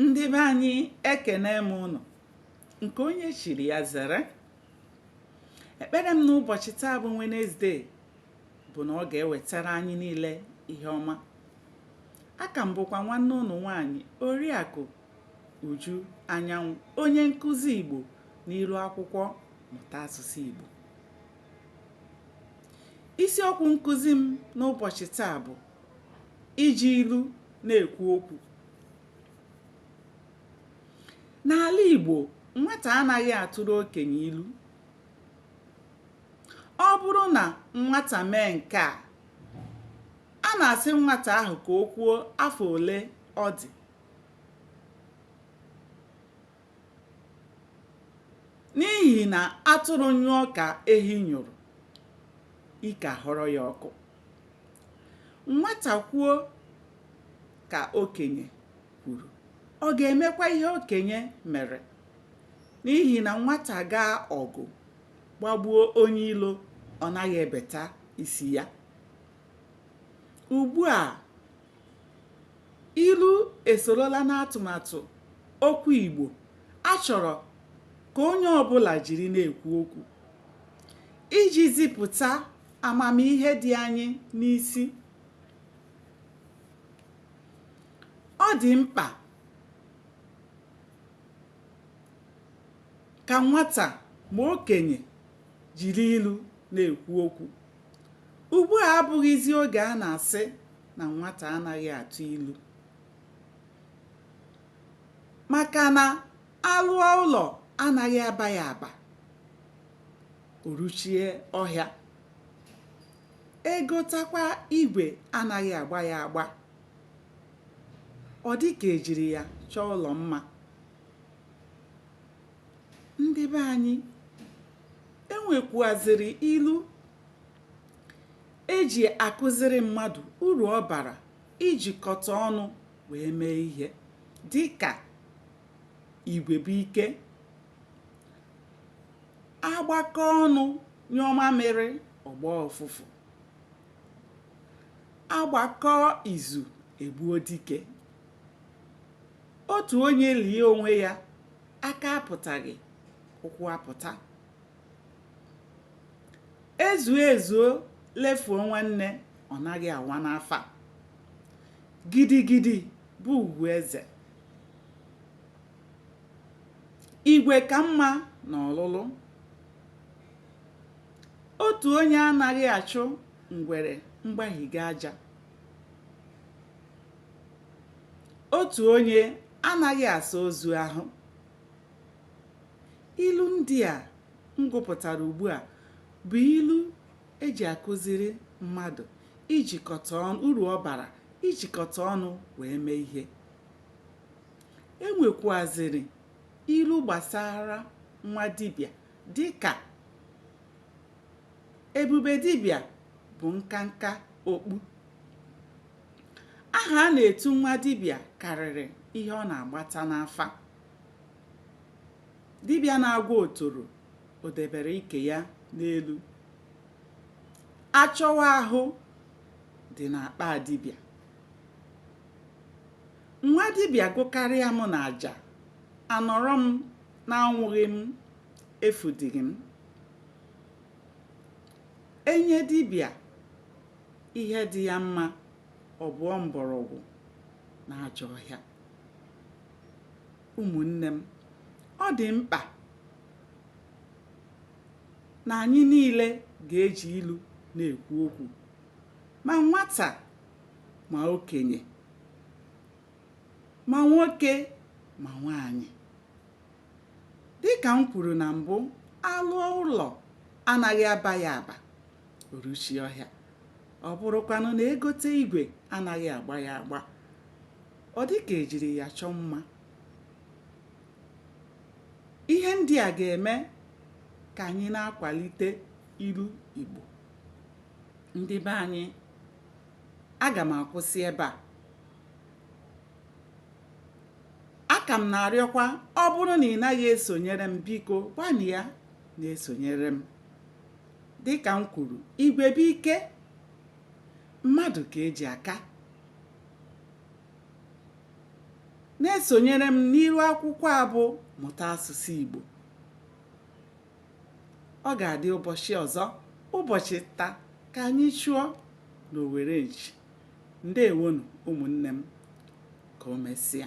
ndị be anyị ekene m unu nke onye chiri ya zere ekpere m n'ụbọchị taa bụ Wednesday bụ na ọ ga-ewetara anyị niile ihe ọma aka m bụkwa nwanne unu nwaanyị oriakụ uju anyanwụ onye nkụzi igbo n'iru akwụkwọ mụta asụsụ igbo isiokwu nkụzi m n'ụbọchị taa bụ iji ilu na-ekwu okwu n'ala Igbo nwata anaghị atụrụ okenye ilu ọ bụrụ na nwata mee nke a a na-asị nwata ahụ ka o kwuo afọ ole ọ dị n'ihi na atụrụ nyụọ ka ehi nyụrụ ike ahọrọ ya ọkụ nwata kwuo ka okenye kwuru ọ ga-emekwa ihe okenye mere n'ihi na nwata gaa ọgụ gbagbuo onye ilo ọ naghị ebeta isi ya ugbu a Ilu esorola n'atụmatụ okwu Igbo a chọrọ ka onye ọbụla jiri na-ekwu okwu. Iji zipụta amamihe dị anyị n'isi, ọ dị mkpa ka nwata ma okenye jiri ilu na-ekwu okwu. Ugbu a abụghịzi oge a na-asị na nwata anaghị atụ ilu maka na a lụọ ụlọ anaghị aba ya aba o ruchie ọhịa egotakwa igwe anaghị agba ya agba ọ dị ka ejiri ya chọọ ụlọ mma ndị be anyị enwekwuaziri ilu eji akụziri mmadụ uru ọ bara ijikọta ọnụ wee mee ihe dịka igwe bụ ike agbakọ ọnụ nyụọ mamịrị ọ gbọọ ụfụfụ agbakọ izu egbuo dike otu onye lie onwe ya aka apụtaghị ụkwụ apụta ezuo ezuo lefuo nwanne ọ naghị awa n'afa gidigidi bụ ugwu eze igwe ka mma na ọlụlụ otu onye anaghị achụ ngwere mgbahiga aja otu onye anaghị asa ozu ahụ ilu ndị a m gụpụtara ugbu a bụ ilu eji akụziri mmadụ ijikọta ọnụ uru ọ bara ijikọta ọnụ wee mee ihe e nwekwaziri ilu gbasara nwa dibịa dịka ebube dibịa bụ nkanka okpu aha a na-etu nwa dibịa karịrị ihe ọ na-agbata n'afa dibịa na-agwọ otoro o debere ike ya n'elu achọwa ahụ dị n'akpa dibịa nwa dibịa gụkarịa m na aja anọrọ m na anwụghị m efudighị m enye dibịa ihe dị ya mma ọ bụọ mgbọrọgwụ na ajọ ọhịa. Ụmụnne m, ọ dị mkpa na anyị niile ga-eji ilu na-ekwu okwu, ma nwata ma okenye, ma nwoke ma nwaanyị. Dịka m kwuru na mbụ, alụọ ụlọ anaghị aba ya aba. o ruchie ọhịa ọ bụrụkwanụ na egote igwe anaghị agba ya agba ọ dị ka ejiri ya chọọ mma ihe ndị a ga-eme ka anyị na-akwalite ilu Igbo ndị be anyị aga m akwụsị ebe a aka m na-arịọkwa ọ bụrụ na ị naghị esonyere m biko gbalịa na-esonyere m Dịka m kwuru, igwe bụ ike, mmadụ ka eji aka. Na-esonyere m n'iru akwụkwọ a bụ Mụta Asụsụ Igbo. Ọ ga-adị ụbọchị ọzọ, ụbọchị nta ka anyị chụọ n'owere nchi. Ndewonụ ụmụnne m. Ka o mesịa.